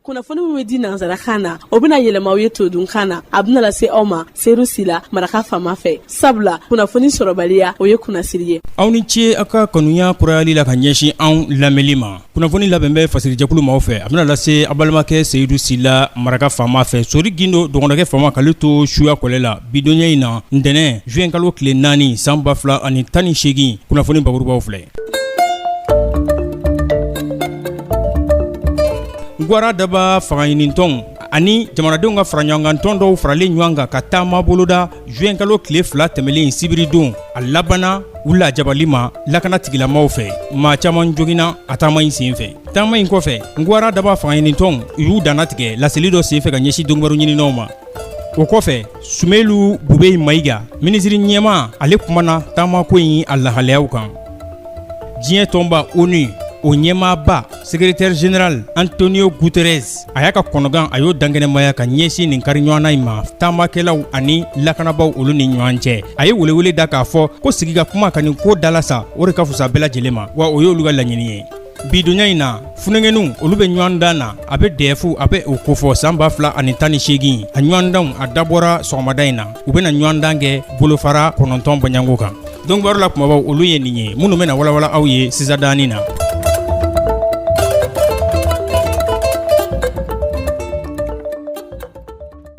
kunnafoni min bɛ di nansarakan na o bɛna yɛlɛma aw ye todunkan na a bɛna lase aw ma seyidu sila maraka fama fɛ sabula kunnafoni sɔrɔbaliya o ye kunnasiri ye aw ni ce aw ka kanuya kurayali la ka ɲɛsin anw lamɛnli ma kunnafoni labɛn bɛ fasirijɛkulu maaw fɛ a bɛna lase a balimakɛ seyidu sila maraka fama fɛ sori gindo dɔgɔnɔkɛ fama k'ale to suya kɔlɛ la bidonya in na ntɛnɛn zuwɛnkalo tile naani san ba fila ani tan ni seegin kunnafoni bakurubaw filɛ Gwara daba fangaɲinitɔn ani jamanadenw ka faraɲɔgɔnkantɔn dɔw faralen ɲɔgɔn kan ka taama boloda zuwɛnkalo tile fila tɛmɛnlen in sibiridon a labanana u lajabali ma lakana tigilamaw fɛ maa caman joginna a taama in senfɛ taama in kɔfɛ gwara daba fangaɲinitɔn u y'u dantigɛ laseli dɔ senfɛ ka ɲɛsin donkibaru ɲininaw ma o kɔfɛ sumelu bube mayiga minisiri ɲɛma ale kumana taamako in a lahalayaw kan diɲɛ tɔnba onu o ɲɛmaaba secrétaire général antonio guterres a y'a ka kɔnɔgan a y'o dankɛnɛmaya ka ɲɛsin nin kari ɲɔgɔnna in ma taamakɛlaw ani lakanabaw olu ni ɲɔgɔn cɛ a ye welewele da k'a fɔ ko sigi ka kuma ka nin ko dalasa o de ka fusa bɛɛ lajɛlen ma wa o y'olu ka laɲini ye bidonya in na funankɛninw olu bɛ ɲɔgɔn dan na a bɛ dɛfu a bɛ o kofɔ san ba fila ani tan ni seegin a ɲɔgɔndanw a dabɔra sɔgɔmada in na u bɛna ɲɔgɔn dan kɛ bolofara kɔnɔntɔn bɔɲɔgɔnko kan donkibaru la kumabaw olu ye nin ye minnu bɛna walawala aw ye sisadani na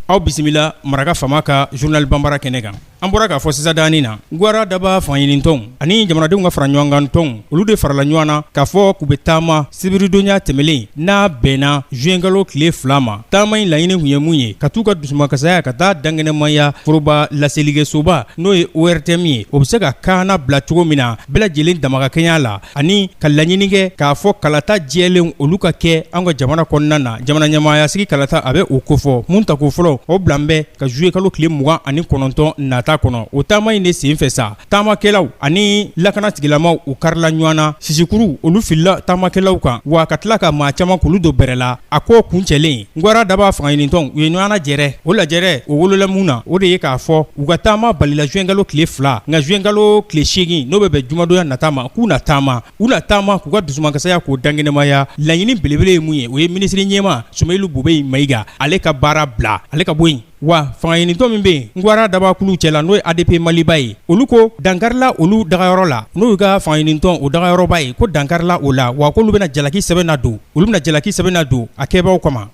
aw bisimila maraka fama ka zurunali banbara kɛnɛ kan An bɔra k'a fɔ sisadani na gwara daba fangaɲinitɔn ani jamanadenw ka faraɲɔgɔnkantɔn olu de farala ɲɔgɔn na k'a fɔ k'u bɛ taama sibiridonya tɛmɛnen n'a bɛnna zuwɛnkalo tile fila ma taama in laɲini kun ye mun ye ka t'u ka dusumakasaya ka taa dankɛnɛmaya foroba laselikɛsoba n'o ye ortm ye o bɛ se ka kaana bila cogo min na bɛɛ lajɛlen damakakɛɲɛ la ani ka laɲini kɛ k'a fɔ kalata jɛlen olu ka kɛ an ka jamana kɔnɔna na jamana ɲɛmaaya sigi kalata a bɛ o kofɔ min tako fɔlɔ o bilalen bɛ ka zuye kalo tile mugan ani kɔnɔntɔn nata kɔnɔ o taama in de senfɛ sa taamakɛlaw ani lakana tigilamaw u karila ɲɔgɔn na sisikuruw olu filila taamakɛlaw kan wa ka tila ka maa caman k'olu don bere la a ko kuncɛlen Gwara daba fangaɲinitɔn u ye ɲɔgɔn lajɛrɛ o lajɛrɛ o wolola mun na o de ye k'a fɔ u ka taama balila zuwɛnkalo tile fila nka zuwɛnkalo tile seegin n'o bɛ bɛn jumadonya nata ma k'u na taama u na taama k'u ka dusumakasaya k'o dankɛnɛmaya laɲini belebele ye mun ye o ye minisiri ɲɛma sumelu bube mayiga ale ka baara bila ale ka bɔ yen Wa fangaɲinitɔn min bɛ yen gwara dabakulu cɛ la n'o ye adp maliba ye olu ko dankarila olu dagayɔrɔ la n'o y'u ka fangaɲinitɔn o dagayɔrɔba ye ko dankarila o la wa k'olu bɛna jalaki sɛbɛn ladon olu bɛna jalaki sɛbɛn ladon a kɛbaaw kama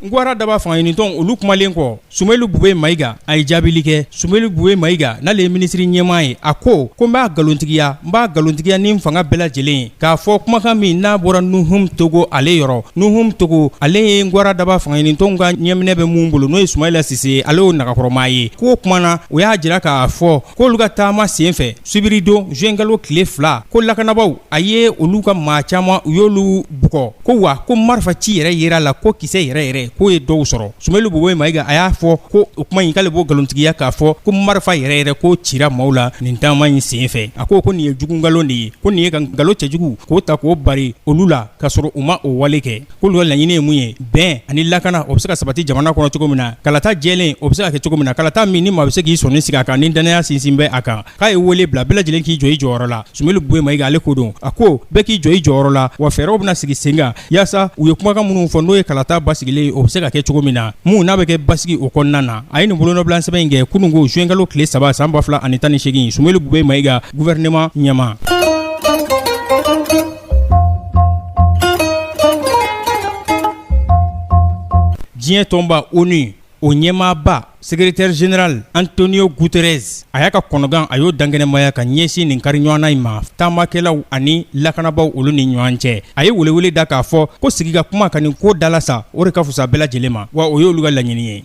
gwara daba fangaɲinitɔn olu kumalen kɔ Soumeylou Boubeye Maiga a ye jaabili kɛ Soumeylou Boubeye Maiga n'ale ye minisiri ɲɛmaa ye a ko ko n b'a nkalontigiya n b'a nkalontigiya ni n fanga bɛɛ lajɛlen ye k'a fɔ kumakan min n'a bɔra Nuhum Togo ale yɔrɔ Nuhum Togo ale ye gwara daba fangaɲinitɔnw ka ɲɛminɛ bɛ mun bolo n'o ye Soumeila Cisse ye ale y'o nagakɔrɔmaa ye k'o kumana o y'a jira k'a fɔ k'olu ka taama senfɛ sibiridon juin kalo tile fila ko lakanabaaw a ye olu ka maa caman u y'olu bugɔ ko wa ko marifa ci yɛrɛ jirala ko kisɛ yɛrɛ yɛrɛ k'o ye dɔw sɔrɔ Soumeylou Boubeye Maiga a y'a fɔ ko o kuma in k'ale b'o nkalontigiya k'a fɔ ko marifa yɛrɛ yɛrɛ k'o cira maaw la nin taama in sen fɛ a ko ko nin ye jugu nkalon de ye ko nin ye ka nkalon cɛjugu k'o ta k'o bari olu la k'a sɔrɔ u ma o wale kɛ k'olu ka laɲini ye mun ye bɛn ani lakana o bɛ se ka sabati jamana kɔnɔ cogo min na kalata jɛlen o bɛ se ka kɛ cogo min na kalata min ni maa bɛ se k'i sɔnni sigi a kan ni dannaya sinsin bɛ a kan k'a ye wele bila bɛɛ lajɛlen k'i jɔ i jɔyɔrɔ la Soumeylou Boubeye Maiga ale ko don a ko bɛɛ k'i jɔ i jɔyɔrɔ la wa fɛɛrɛw bɛna sigi sen kan yaasa u ye kumakan minnu fɔ n'o ye kalata basigilen ye o bɛ se ka kɛ cogo min na min n'a bɛ kɛ basigi o kɔnɔna na a ye nin bolonɔbilansɛbɛn in kɛ kunungo zuwɛnkalo tile saba san 2018 Soumeylou Boubeye Maiga gouvernement ɲɛmaa diɲɛ tɔnba ONU o ɲɛmaaba secrétaire général Antonio Guterres a y'a ka kɔnɔgan a y'o dankɛnɛmaya ka ɲɛsin nin kari ɲɔgɔnna in ma taamakɛlaw ani lakanabaaw olu ni ɲɔgɔn cɛ a ye welewele da k'a fɔ ko sigi ka kuma ka nin ko dalasa o de ka fusa bɛɛ lajɛlen ma wa o y'olu ka laɲini ye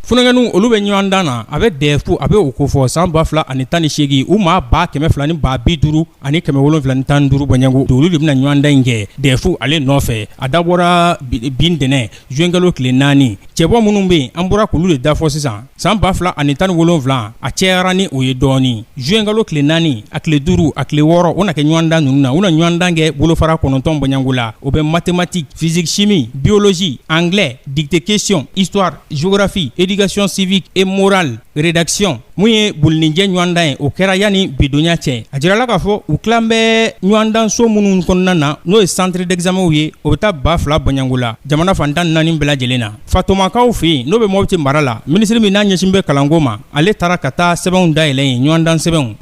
funankɛninw olu bɛ ɲɔgɔndan na a bɛ dɛfu a b'o kofɔ san ba fila ani tan ni seegin u maa ba kɛmɛ fila ni ba bi duuru ani kɛmɛ wolonwula tan ni duuru bɔɲɔgɔnko olu de bɛna ɲɔgɔndan in kɛ dɛfu ale nɔfɛ a dabɔra bi ntɛnɛn zuwɛnkalo tile naani cɛbɔ minnu bɛ yen an bɔra k'olu de da fɔ sisan san ba fila ani tan ni wolonwula a cɛyara ni o ye dɔɔnin zuwɛnkalo tile naani a tile duuru a tile wɔɔrɔ o na kɛ ɲɔgɔndan ninnu na u na ɲɔgɔndan kɛ bolofara kɔnɔntɔn bɔɲɔgɔnko la o bɛ mathématique physique chimie biologie anglais dictée question histoire géographie éducation civique et morale rédaction Mun ye bolininjɛ ɲɔgɔndan ye o kɛra yanni bidonya cɛ a jirala k'a fɔ u tila bɛ ɲɔgɔndanso minnu kɔnɔna na n'o ye centre d'examenw ye o bɛ taa ba fila bɔɲɔgɔnko la jamana fan tan ni naani bɛɛ lajɛlen na Fatomakaw fɛ yen n'o bɛ Mopti mara la minisiri min n'a ɲɛsin bɛ kalanko ma ale taara ka taa sɛbɛnw dayɛlɛ yen ɲɔgɔndan sɛbɛnw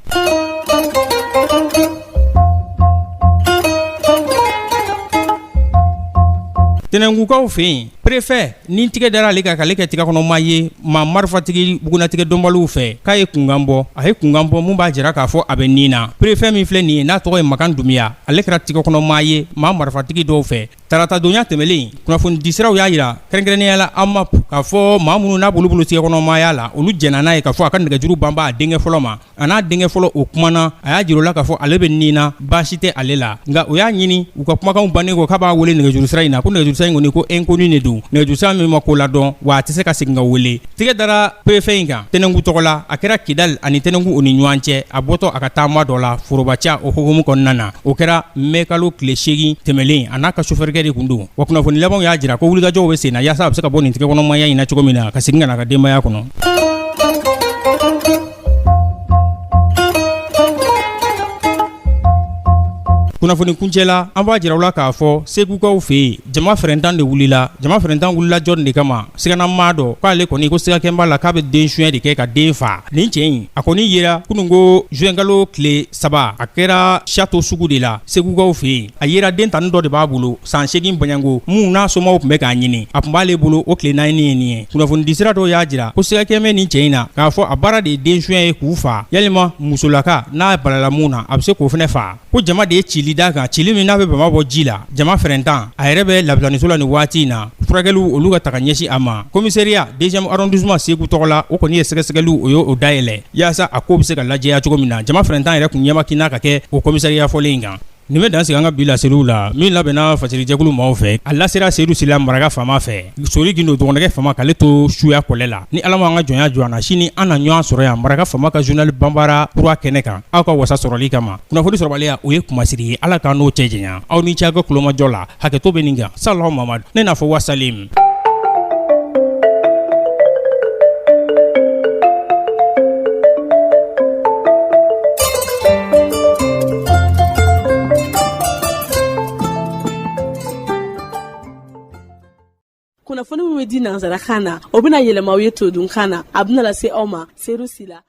Tɛnɛnkukaw fɛ yen Perefɛ nin tɛgɛ dara ale kan k'ale kɛ tɛgɛ kɔnɔmaa ye maa marifatigi bugunnatigɛ dɔnbaliw fɛ k'a ye kunkan bɔ a ye kunkan bɔ min b'a jira k'a fɔ a bɛ ni na perefɛ min filɛ nin ye n'a tɔgɔ ye Makan Dumuya ale kɛra tɛgɛ kɔnɔmaa ye maa marifatigi dɔw fɛ taratadonya tɛmɛnlen kunnafonidisiraw y'a jira kɛrɛnkɛrɛnnenyala AMAP k'a fɔ maa minnu n'a bolo tɛgɛ kɔnɔmaaya la olu jɛnna n'a ye k'a fɔ a ka nɛgɛjuru banba a denkɛ fɔlɔ ma a n'a denkɛ fɔlɔ o kuma na a y'a jir'u la k'a fɔ ale bɛ nin na baasi tɛ ale la nka o y'a ɲini u ka kumakanw bannen kɔ k'a b'a wele nɛgɛjurusira in na ko nɛgɛjurusira in kɔni ko inconnu de don nɛgɛjurusira min ma ko ladɔn wa a tɛ se ka segin ka wele tɛgɛ dara perefe in kan tɛnɛngu tɔgɔ la a kɛra kidali ani tɛnɛngu o ni ɲɔgɔn cɛ a bɔtɔ a ka taama dɔ la forobaca o hokumu kɔnɔna na o kɛra mɛkalo tile seegin tɛmɛlen a n'a ka sofɛrikɛ de tun don wa kunnafoni labanw y'a jira ko wulikajɔw bɛ sen na yaasa a bɛ se ka bɔ nin tɛgɛkɔnɔmaya in na cogo min na ka segin ka na a ka denbaya kɔnɔ kunnafoni kuncɛ la an b'a jir'aw la k'a fɔ segukaw fɛ yen jama fɛrɛntan de wulila jama fɛrɛntan wulila jɔn de kama siganamaa dɔ k'ale kɔni ko sigakɛn b'a la k'a bɛ den suɲɛ de kɛ ka den faa nin cɛ in a kɔni yera kunun ko zuwɛnkalo tile saba a kɛra château sugu de la segukaw fɛ yen a yera den tani dɔ de b'a bolo san seegin bɔɲɔgɔnko mun n'a somaw tun bɛ k'a ɲini a tun b'ale bolo o tile naani ye nin ye kunnafoni disira dɔw y'a jira ko sigakɛn bɛ nin cɛ in na k'a fɔ a baara de ye den suɲɛ ye k'u faa yalima musolaka n'a balala mun na a bɛ se k'o fana faa ko jama de ye cili da kan cili min n'a bɛ bama bɔ ji la jama fɛrɛntan a yɛrɛ bɛ labitaniso la nin waati in na furakɛliw olu ka taga ɲɛsin a ma komisariya deuxième arrondissement segu tɔgɔ la o kɔni ye sɛgɛsɛgɛliw o y'o dayɛlɛ yaasa a ko bɛ se ka lajɛya cogo min na jama fɛrɛntan yɛrɛ tun ɲɛmakina ka kɛ o komisariya fɔlen in kan Nin bɛ dan sigi an ka bi laseliw la min labɛnna fasirijɛkulu maaw fɛ a lasera seedu sila maraka faama fɛ sori gindo dɔgɔninkɛ faama k'ale to suya kɔlɛ la ni ala ma an ka jɔnya jɔ an na sini an na ɲɔgɔn sɔrɔ yan maraka faama ka journal banbara kura kɛnɛ kan aw ka wasa sɔrɔli kama kunnafoni sɔrɔbaliya o ye kunmasiri ye ala k'an n'o cɛ janya aw ni ce aw ka kulomajɔ la hakɛto bɛ nin kan sallahu mamadu ne n'a fɔ wasalim kunnafoni min bɛ di nansarakan na o bɛna yɛlɛma aw ye todunkan na a bɛna lase aw ma seedu sila